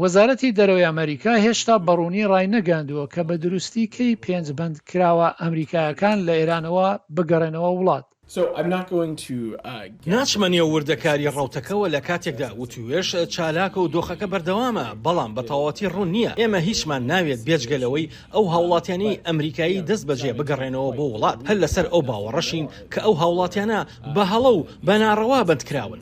وەزارەتی دەرەوەی ئەمەریکا هێشتا بەڕوونی ڕاینەگەیاندووە کە بە دروستی کەی پێنج بەندکراوە ئەمریکایەکان لە ئێرانەوە بگەڕێنەوە وڵات. ناچمە نێو وردەکاری ڕەوتەکەوە لە کاتێکدا وتووێژ چالاکە و دۆخەکە بەردەوامە، بەڵام بە تەواوەتی ڕوون نییە ئێمە هیچمان ناوێت بێجگە لەوەی ئەو هاوڵاتیانەی ئەمریکایی دەستبەجێ بگەڕێنەوە بۆ وڵات، هەر لەسەر ئەو باوەڕەشین کە ئەو هاوڵاتیانە بە هەڵە و بە ناڕەوا بەندکراون.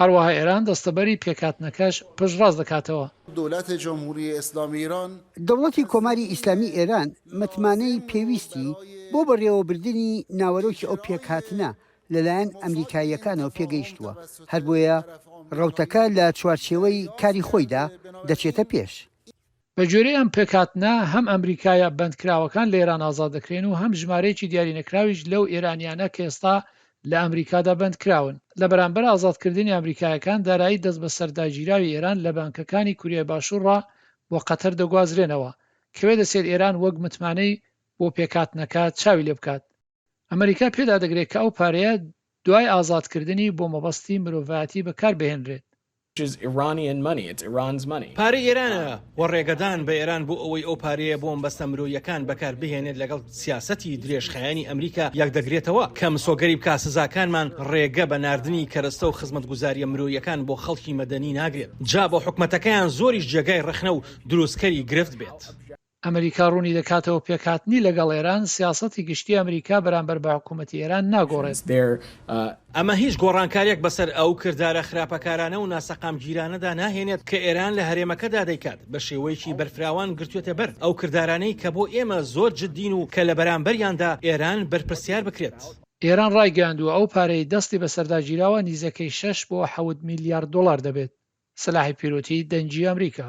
هەروەها ئێران دەستەبەری پێکهاتنەکەش پشتڕاست دەکاتەوە. دولت جمهوری اسلامی ایران. دەوڵەتی کۆماری ئیسلامی ئێران متمانەی پێویستی بۆ بەڕێوەبردنی ناوەرۆکی ئەو پێکهاتنە لەلایەن ئەمریکاییەکانەوە پێگەیشتووە، هەربۆیە ڕەوتەکە لە چوارچێوەی کاری خۆیدا دەچێتە پێش. بە گوێرەی ئەم پێکهاتنە، هەم ئەمریکایە بەندکراوەکان لە ئێران ئازاد دەکرێن و هەم ژمارەیەکی دیارینەکراویش لەو ئێرانییانە کە ئێستا لە ئەمریکادا بەندکراون. لە بەرامبەر ئازادکردنی ئەمریکایەکان، دارایی دەستبەسەرداگیراوی ئێران لە بانکەکانی کوریای باشوورڕا بۆ قەتەر دەگوازرێنەوە. کوێ دەچێت ئێران وەک متمانەی بۆ پێکهاتنەکە چاوی لێ بکات؟ ئەمەریکا پێدا دەگرێت کە ئەو پارەیە دوای ئازادکردنی بۆ مەبەستی مرۆڤایەتی بەکار بهێنرێت. پارەی ئێرانە و ڕێگەدان بە ئێران بۆ ئەوەی ئەو پارەیە بۆ مەبەستە مرۆیەکان بەکار بهێنێت لەگەڵ سیاسەتی درێژخایەنی ئەمریکا یەک دەگرێتەوە کە مسۆگەری بکات سزاکانمان ڕێگە بە ناردنی کەرەستە و خزمەتگوزارییە مرۆیەکان بۆ خەڵکی مەدەنی ناگرێت جا بۆ حکومەتەکەیان زۆریش جێگای ڕەخنە و دروستکەری گرفت بێت. ئەمریکا ڕوونی دەکاتەوە پێکهاتنی لەگەڵ ئێران، سیاسەتی گشتیی ئەمریکا بەرامبەر بە حکوومەتی ئێران ناگۆڕێت. ئەمە هیچ گۆڕانکارییەک بەسەر ئەو کردارە خراپەکارانە و ناسەقامگیرانەدا ناهێنێت کە ئێران لە هەرێمەکەدا دەیکات، بە شێوەیەکی بەرفراوان گرتووەتە بەر ئەو کردارانەی کە بۆ ئێمە زۆر جددین و کە لە بەرامبەریاندا ئێران بەرپرسیار بکرێت. ئێران ڕایگەیاندووە، ئەو پارەی دەستی بەسەردا گیراوە نیزەکەی شەش بۆ حەوت میلیارد دۆڵار دەبێت، سلاحی پیرۆتیی دەنگی ئەمریکا.